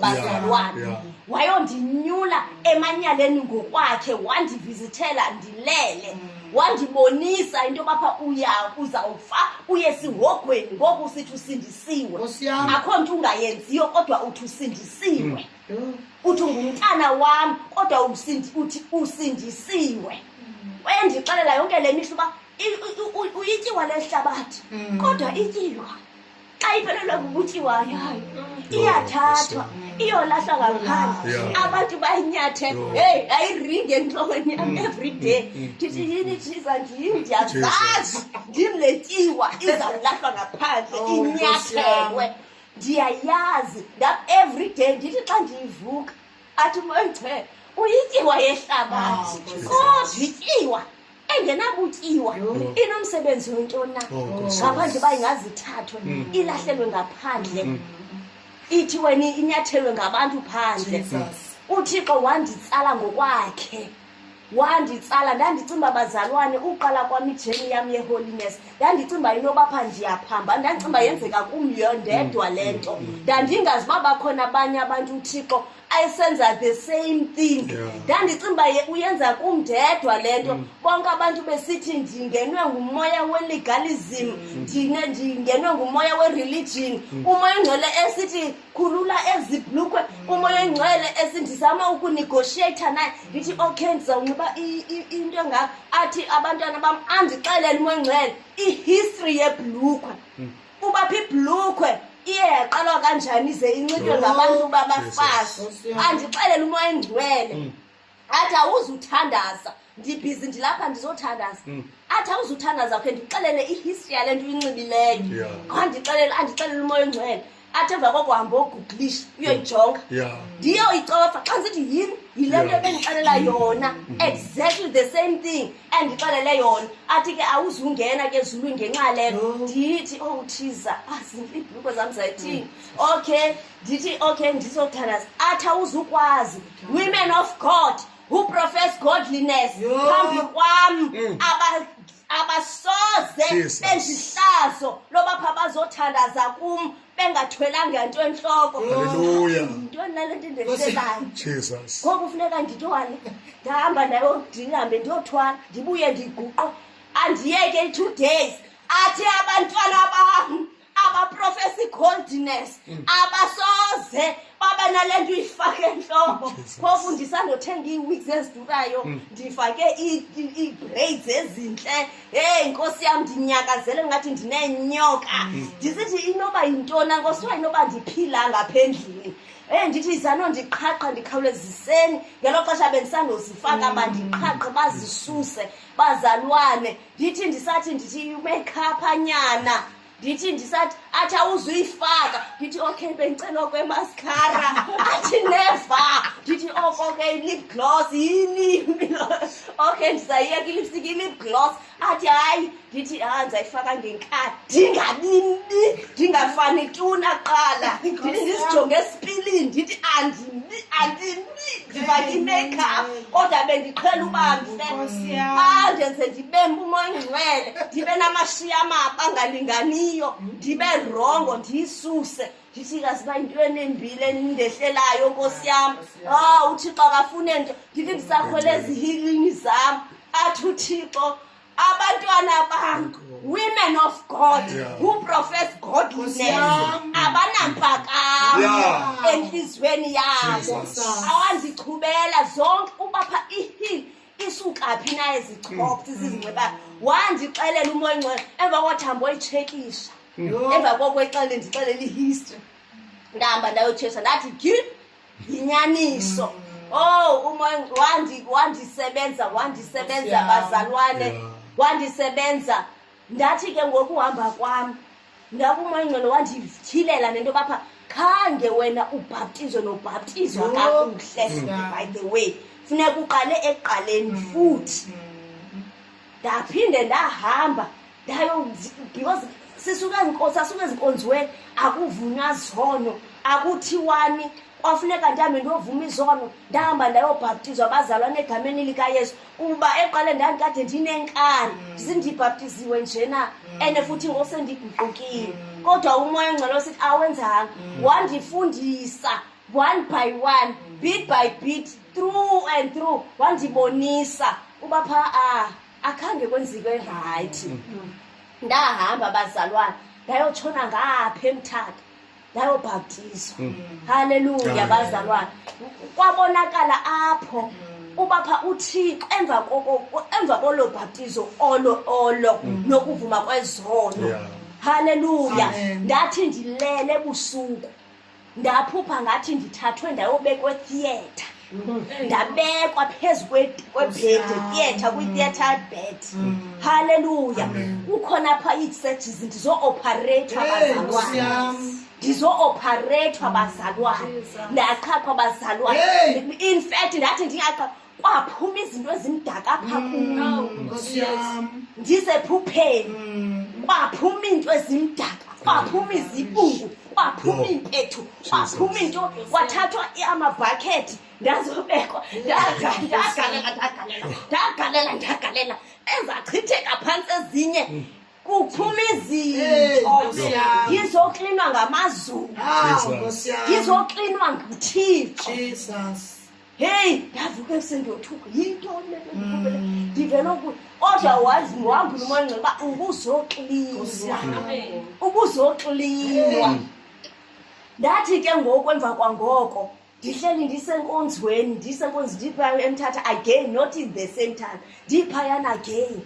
bazalwane yeah, yeah. wayondinyula emanyaleni ngokwakhe wandivizithela ndilele mm. wandibonisa into yobapha uya uzawufa uye sihogweni ngoku sithi usindisiwe akho nto ungayenziyo kodwa uthi usindisiwe mm. uthi ungumntana wam kodwa uthi usindisiwe mm. wayendixelela yonke le mihla uba uyityiwa le hlabathi mm. kodwa ityiwa xa iphelelwa bubutyi wayo iyathathwa iyolahlwa ngaphandle Yeah. abantu bayinyathe Yeah. heyi ayiringi entlokweni yam every day ndithi yini jiza ndim ndiyazazi ndim le tyiwa izawulahlwa ngaphandle Oh, Nkosi yam. inyathelwe ndiyayazi ndam every day ndithi xa ndiyivuka athi moyichele uyityiwa yehlabathi Oh, Nkosi yam. kodwa ityiwa engenabutyiwa inomsebenzi wentoni na oh, ngaphandle uba ingazithathwe mm. ilahlelwe ngaphandle mm. ithi wena inyathelwe ngabantu phandle uthixo wanditsala ngokwakhe wanditsala ndandicinga uba bazalwane uqala kwam ijeni yam yeholiness ndandicinga uba inoba pha ndiyaphamba ndandicinga uba yenzeka kumyo ndedwa le nto mm. ndandingazi uba bakhona abanye abantu uthixo ayisenza the same thing ndandicinga uba uyenza kumndedwa le nto mm. bonke abantu besithi ndingenwe ngumoya welegalism mm. ndine ndingenwe ngumoya wereligion mm. umoya ongcwele esithi khulula ezi blukwe umoya ongcwele esi ndizama ukunegotiata naye ndithi okay ndizawunxiba into engako athi abantwana bam andixelele umoya ongcwele ihistory yeblukwe uba phi ibhlukhwe iye yaqalwa kanjani ize inxitywe ngabantu uba bafazi andixelele umoya engcwele mm. athi awuzuthandaza ndibhizi ndilapha ndizothandaza mm. athi awuzuthandaza khe ndixelele ihistory yale nto uyinxibileyo andixelele andixelele umoya engcwele athi emva kokuhamba ogugulisha uyoyijonga ndiyoyicofa xa ndisithi yini yile nto ebendixelela yona mm. exactly the same thing endixelele yona athi ke awuzungena ke ezulwini ngenxa lelo ndithi owu oh, thiza aziibhuluko ah, zam zayithini hmm. okay ndithi okay ndizothandaza athi awuzukwazi women of god who profess godliness phambi kwam hmm. abasoze bendihlazo loba pha bazothandaza kum bengathwelanga nto entloko Hallelujah. yintoni nale nto ndendiselayo Jesus. ngoku funeka ndithwale ndihamba nayo ndihambe ndiyothwala ndibuye ndiguqo andiyeke i-two days athi abantwana bam abaprofesa i-coldness abasoze babe nale nto uyifake entloko phofu ndisandothenga ii-weeks ezidurayo ndifake ii-braids ezintle heyi nkosi yam ndinyakazele ngathi ndinenyoka mm. ndisithi inoba yintona nkosi uba inoba ndiphila ngapha endlini um ndithi izano ndiqhaqha ndikhawuleziseni ngelo xesha bendisandozifaka mm. bandiqhaqhe bazisuse bazalwane ndithi ndisathi ndithi umekhapha nyana ndithi ndisathi athi awuzuyifaka ndithi okay bendicela okwemaskara athi neva ndithi oko ke ilip gloss yini okay ndizayiyeka ilipstik ilip gloss athi hayi ndithi ha ah, ndizayifaka ngenkhathi ndingabimbi ndingafani tuna qala ndithi ndizijonge esipilini ndithi andimbi andimbi ndifake imakeup kodwa bendiqhela uba mhle andenze ndibe mbumoya ingcwele ndibe namashiya amaba angalinganiyo ndibe rongo ndiyisuse ndithi kaziba yinto enembile endehlelayo nkosi yam o uthixo akafune nto ndithi ndisakhwele ezihilini zam athi uthixo abantwana bam women of god yeah. who profess godliness abanampakamo yeah. entliziyweni yabo awandichubela zonke ubapha ihil isukaphi na ezichopti mm. zizinxibayo wandixelela umoya ngcwele emva kothambo oyitshekisha mm. emva koko ixele ndixelela ihistory ndahamba ndayotshesha ndathi gil yinyaniso mm. oh uma wandi wandisebenza wandisebenza yeah. bazalwane yeah. wandisebenza ndathi ke ngokuhamba kwam ndakumangcelo wandithilela nento bapha khange wena ubhaptizwe nobhaptizwa no. kakuhle yeah. by the way funeka uqale ekuqaleni mm. futhi mm. ndaphinde ndahamba ndayo because sisuke ezinkonzo asuke ezinkonziweni akuvunywa zono akuthiwani kwafuneka ndihambe ndiyovuma izono ndahamba ndayobhaptizwa bazalwana egameni likayesu kuba eqale ndandikade ndinenkani mm. zindibhaptiziwe njena mm. and futhi ngosendiguqukile mm. kodwa umoya ongcwele osithi awenzanga wandifundisa one by one bit by bit through and through wandibonisa uba pha a akhange kwenzike rayithi mm. ndahamba bazalwana ndayotshona ngapha emthatha ndayobhaptizwa mm. halleluya bazalwana kwabonakala apho mm. uba pha uthixo emva koko emva kolo bhaptizo olo olo nokuvuma kwezono halleluya ndathi ndilele ebusuku ndaphupha ngathi ndithathwe ndayobekwe theatre ndabekwa phezu kwebhedi theatre kwi-theatre bed halleluya kukhona pha iiseji zindizo-opharethwa bazalwane ndizo-opharethwa bazalwane ndaqhathwa bazalwane in fact ndathi ndingaqha kwaphuma izinto ezimdaka apha mm, kuyo ndize phupheni mm. kwaphuma iinto ezimdaka kwaphuma izibungu kwaphuma iimpethu kwaphuma into kwathathwa amabhakhethi ndazobekwa ndagalela ndagalela ndagalela ezachitheka phantsi ezinye mm. kuphuma izinto ngizoklinwa ngamazulu ngizoklinwa nguthixo heyi ndavuke ekuseni ndiyothuka yintoni le mm. ndivele ukuy otherwise mhambile umanxa uba ubuzoxlinwa ubuzoxlinwa mm. ndathi ke ngoku emva kwangoko ndihleli ndisenkonzweni ndisenkonzi ndiphaya emthatha again not in the same time ndiphayana again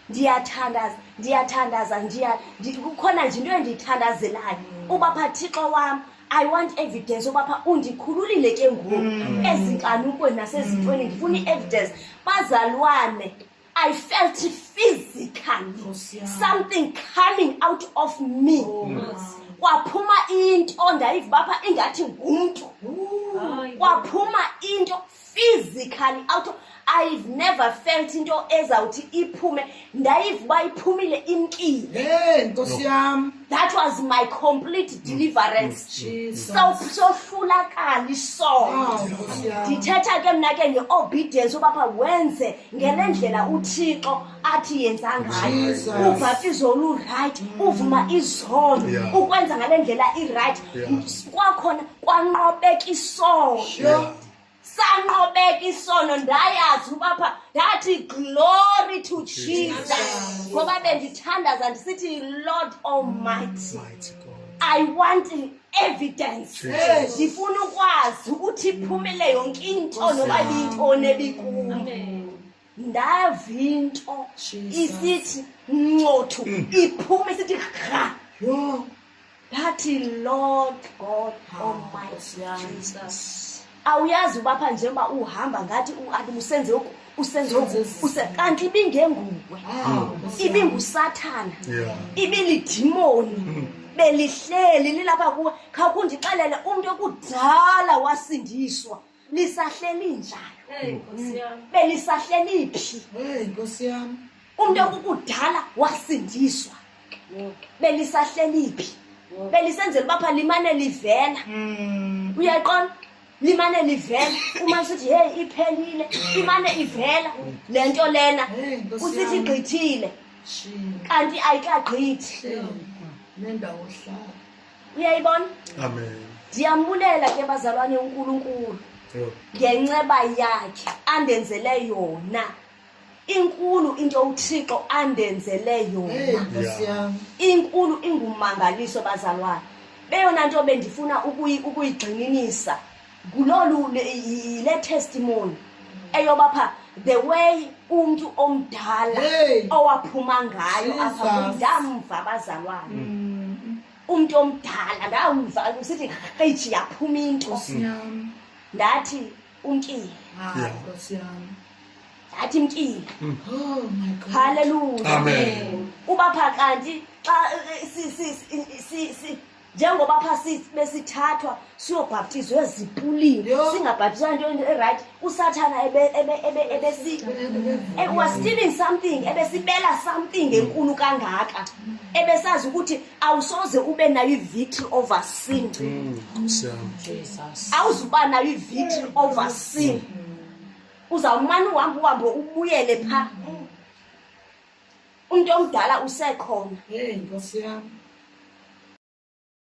ndiyathandaza ndiyathandaza ndiya kukhona nje into endiyithandazelayo uba pha thixo wam i want evidence uba pha undikhululile ke ngoku mm. ezinkanukweni nasezintweni ndifuna i-evidence bazalwane I felt physically something coming out of me. Oh, Kwaphuma into ndayiva bapha ingathi ngumntu. Kwaphuma into physically out i've never felt into ezawuthi iphume ndayiva uba iphumile imkile hey nkosi yam that was my complete mm. deliverance mm. sohlulakala isono ah, ndithetha ke mna ke nge-obedience ubapha wenze ngele mm. ndlela uthixo athi yenza ngayo ubhaptizo olurayithi uvuma izono ukwenza ngale ndlela irayithi kwakhona kwanqobeka isono sanqobeka isono ndayazi uba pha ndathi glory to jesus ngoba bendithandaza ndisithi lord almighty i want evidence ndifuna ukwazi ukuthi iphumele yonke into noba liyintoni ebikuyo ndavinto isithi ncothu mm. iphume isithi rha ndathi lord god ah, almighty jesus awuyazi uba pha njengoba uhamba ngathi uabi usenze oku usenze oku use kanti ibingenguwe ah, ibingusathana ibilidimoni mm. belihleli lilapha kuwe khawukundixelele umntu okudala wasindiswa nisahleli njani Hey Nkosi yam. benisahleli phi Hey Nkosi yam. umntu okukudala wasindiswa Yho, benisahleli phi yho. belisenzela uba pha limane livela Mm. uyaqona limane livela uma sithi heyi iphelile imane ivela le nto lena Hey Nkosi usithi yam. igqithile Shini. kanti ayikagqithi Shini. Nendawo hlala. uyayibona amen ndiyambulela ke bazalwane unkulunkulu ngenceba yakhe andenzele yona inkulu into uthixo andenzele yona inkulu ingumangaliso bazalwane beyona nto bendifuna ukuyigxininisa ngulolu le- yile testimony eyoba pha the way umntu omdala Hey. owaphuma ngayo apha Jesus. Mm. kum, ndamva abazalwane umntu omdala ndamva usithi qeji yaphuma into Nkosi yam. ndathi umkile Hayi, Yeah. Nkosi yam. ndathi mkile Oh my God. haleluya Amen. uba pha kanti xa eh, si- si- si- si- si- njengoba pha besithathwa siyobhaptizwa ezipulini singabhaptizwa into erayithi usathana was stealing something ebesibela something enkulu kangaka ebesazi ukuthi awusoze ube nayo i-victory over sin mm, awuzuba nayo i-victory over sin uzawumane uhambe uhambe ubuyele phaa umntu omdala usekhona hey nkosi yam